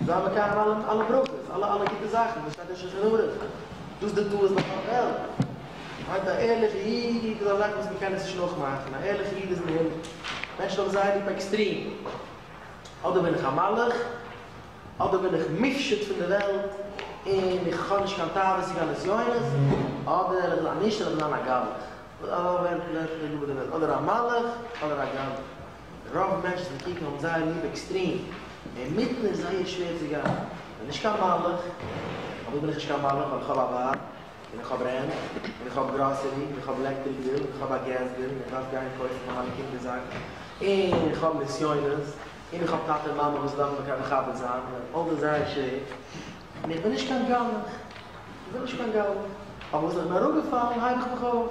איז דא א מקיים אלע אלע ברכות, אלע אלע גוטע זאכן וואס שטייט אין שולחן ערוך, דאס די טעות ביי פאר בעלז, מען מיינט א ערליכע איד איז א זאך וואס מען קען עס נישט נאכמאכן, א ערליכע איד איז אין הימל, מענטשן האבן זייער ליב עקסטרים, אדער בין איך א מלאך, אדער בין איך מופשט פון די וועלט און איך האב נישט קיין תאוות צו גיין נסיונות, אדער איך וויל א נישט, איך וויל זיין א גלח, אדער א מלאך, אדער א גלח. רוב מענטשן וואס קוקן האבן זייער ליב עקסטרים, און מיטן איז זייער שווער צו גיין. כ'בין נישט קיין מלאך. פארוואס בין איך נישט קיין מלאך? ווייל איך האב א ווייב, און איך האב רענט, און איך האב גראסערי, און איך האב עלעקטריק ביל, און איך האב א געז ביל, און איך דארף גיין קויפן פאר מיינע קינדער זאקן, און איך האב נסיונות, און איך האב טאטע און מאמע וואס דארפן מיר מכבד זיין, און אלס איז זייער שווער, און איך בין נישט קיין גלח. איך בין נישט קיין גלח. אבער וואס איך בין אראפגעפאלן הייב איך מיך אויף.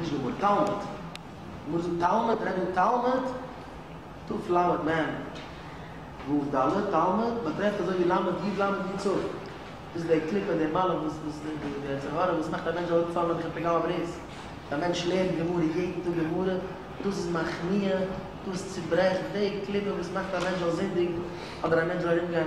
נישט די ווארט תלמוד. מ'מוז זאגן תלמוד, רעד אן תלמוד, טו פלאווערד מען, וואו ד. תלמוד באטרעפט אזוי ווי למד יוד למד יוד צו. דאס איז דער קליפ און דער מעלה וואס וואס די די די יצר הרע וואס מאכט א מענטש ארויף פאלן אויף די פגם הברית. א מענטש לערנט גמרא יעדן טאג גמרא, דאס איז מכניע, דאס צוברעכט די קליפה וואס מאכט א מענטש זאל זינדיגן אדער א מענטש זאל ארומגיין.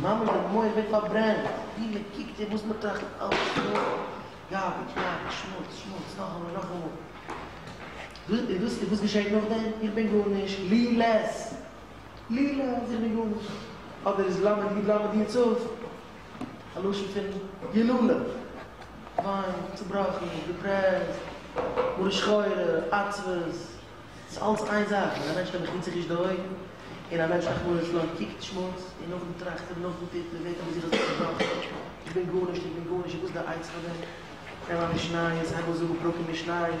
ממש די מח ווערט פארברענט, ווי מען קוקט און וואס מען טראכט אלעס איז נאר גארבידזש, גארבידזש, שמוץ, שמוץ, נאכאמאל, נאכאמאל. און וואס, און וואס געשעט נאכדעם? איך בין גארנישט, לי לעס, לי לעס, איך בין גארנישט. אדער איז למד י' למד י' צוף א לשון פון יללה, וויין, צובראכן, דיפרעסט, מרה שחורה, עצבות. ס'איז אלץ איין זאך, ווען א מענטש קען מחיצה ריש די אויגן, און א מענטש אויך מוהרא ש לויט קוקט שמות, און נאכדעם טראכט ער, נאכדעם טוט מען, ווערט ער בזיך אזוי צעבראכן, איך בין גארנישט, איך בין גארנישט, וואס איז די עצה פאר דעם? נעם א משניות, הייב אן זאגן פרקים משניות.